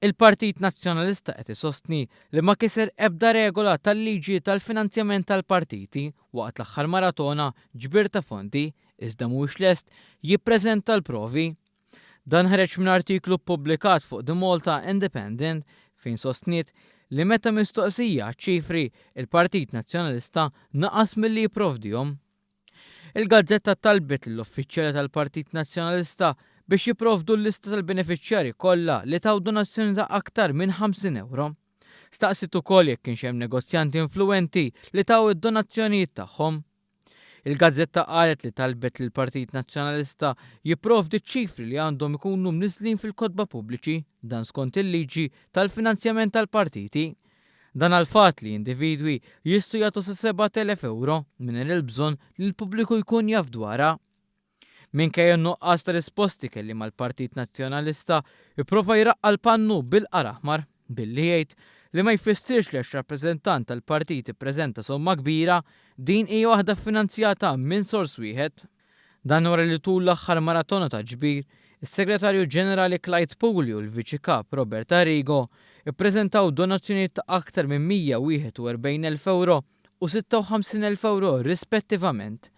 Il-Partit Nazzjonalista qed isostni li ma kiser ebda regola tal-liġi tal-finanzjament tal-partiti waqt l-aħħar maratona ġbir ta' fondi iżda mhuwiex lest jippreżenta l-provi. Dan ħareġ minn artiklu ppubblikat fuq The Malta Independent fejn sostniet li meta mistoqsija ċ-ċifri, il-Partit Nazzjonalista naqas milli jipprovdihom. Il-gazzetta talbet lill-uffiċjali tal-Partit Nazzjonalista biex jipprovdu l-lista tal-benefiċjarji kollha li taw donazzjoni ta' aktar minn 50 ewro. Staqsiet ukoll jekk kienx hemm negozjanti influwenti li taw id-donazzjonijiet tagħhom. Il-gazzetta qalet li talbet lill-Partit Nazzjonalista jipprovdi ċ-ċifri li għandhom ikunu mniżżlin fil-kotba pubbliċi, dan skont il-liġi tal-finanzjament tal-partiti, Dan għall-fatt li individwi jistgħu jagħtu sa 7,000 ewro mingħajr il-bżonn li l-pubbliku jkun jaf dwarha. Minkejja n-nuqqas ta' risposti kelliem għall-Partit Nazzjonalista pprova jraqqa' l-pannu bil-qar aħmar billi jgħid li ma jfissirx li għax rappreżentant tal-partit ippreżenta somma kbira din hija waħda ffinanzjata minn sors wieħed. Dan wara li tul l-aħħar maratona ta' ġbir, is-Segretarju Ġenerali Clyde Puli u l-Viċi Kap Robert Arrigo ppreżentaw donazzjonijiet ta' aktar minn 141 elf ewro u 56 elf ewro rispettivament.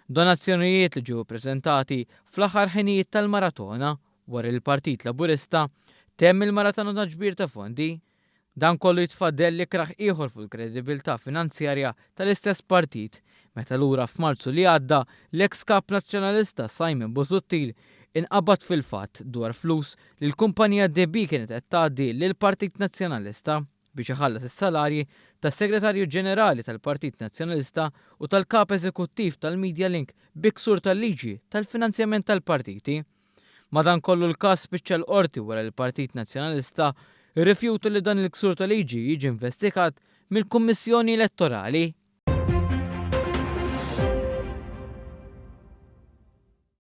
Donazzjonijiet li ġew ippreżentati fl-aħħar ħinijiet tal-maratona wara li l-Partit Laburista temm il-maratona ta' ġbir ta' fondi. Dan kollu jitfa' dell ikrah ieħor fuq il-kredibilità finanzjarja tal-istess partit meta lura f'Marzu li għadda l-eks Kap Nazzjonalista Simon Busuttil inqabad fil-fatt dwar flus li l-kumpanija DB kienet qed tgħaddi lill-Partit Nazzjonalista biex iħallas is-salarji tas-Segretarju Ġenerali tal-Partit Nazzjonalista u tal-Kap Eżekuttiv tal-Medialink bi ksur tal-liġi tal-finanzjament tal-partiti. Madankollu l-każ spiċċa l-Qorti wara li l-Partit Nazzjonalista rrifjuta li dan il-ksur ta' liġi jiġi investigat mill-Kummissjoni Elettorali.